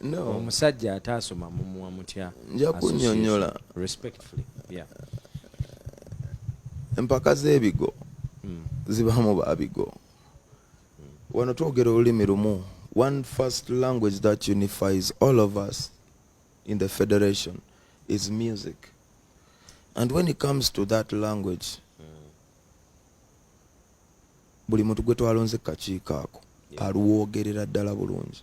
no. omusajja ataasoma mumuwa mutya nja kunyonyola respectfully yeah. empaka z'ebigo mm. zibamu babigo mm. wano twogera olulimi lumu one first language that unifies all of us in the federation is music and when it comes to that language mm. buli muntu gwe twalonze kakiiko ako yeah. aluwoogerera ddala bulungi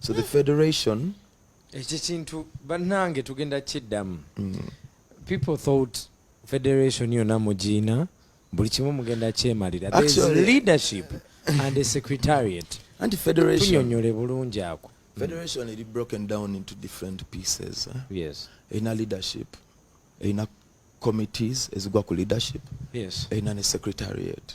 so the federation ekyo kintu bannange tugenda kiddamu mm. people thought federation yona mugiina buli kimu mugenda kyemalira leadership and a secretariat anti federationyonyole bulungi ako federation eri broken down into different pieces eh? yes erina leadership erina committees ezigwa ku leadership yes erina ne secretariat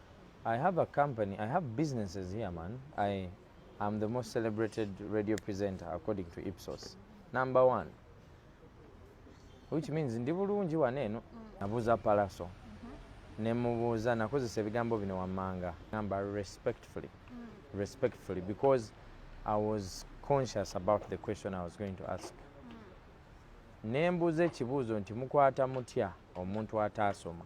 I have a company, I have businesses here, man. I am the most celebrated radio presenter according to Ipsos. Number one. Which means ndi bulungi waneeno. Mm. Nabuuza Palaso. Mm-hmm. Ne mubuuza nakozesa ebigambo bino wammanga. Ngamba respectfully. Mm. Respectfully because I was conscious about the question I was going to ask. Mm. Ne mbuuza ekibuuzo nti mukwata mutya omuntu ataasoma.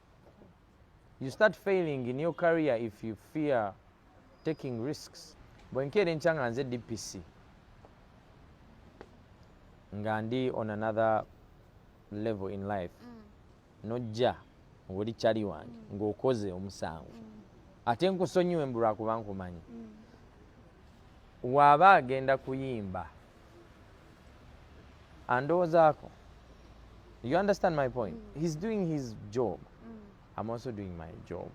you start failing in your career if you fear taking risks bwenkeera enkya nga nze dpc nga ndi on another level in life mm. nojja ngoli kyali wange mm. ngaokoze omusango mm. ate nkusonyiwe mbulwakuba nkumanyi mm. Waba agenda kuyimba andowozako you understand my point mm. he's doing his job mm. i'm also doing my job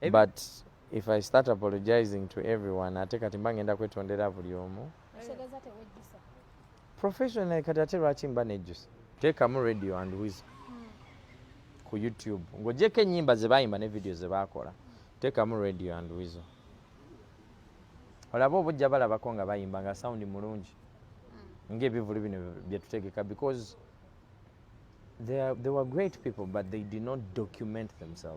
mm. but if i start apologizing to everyone ate kati mba ngenda kwetondera buli omu professional kati ate lwaki mba nejjusa teekamu radio and wis mm. ku youtube ng'ogyeko ennyimba ze baayimba ne vidiyo ze baakola teekamu radio and wizo olaba oba ojja balabako nga bayimba nga sound mulungi hmm. ngaebivulu bino byetutegeka because they, are, they were great people but they did not document themselves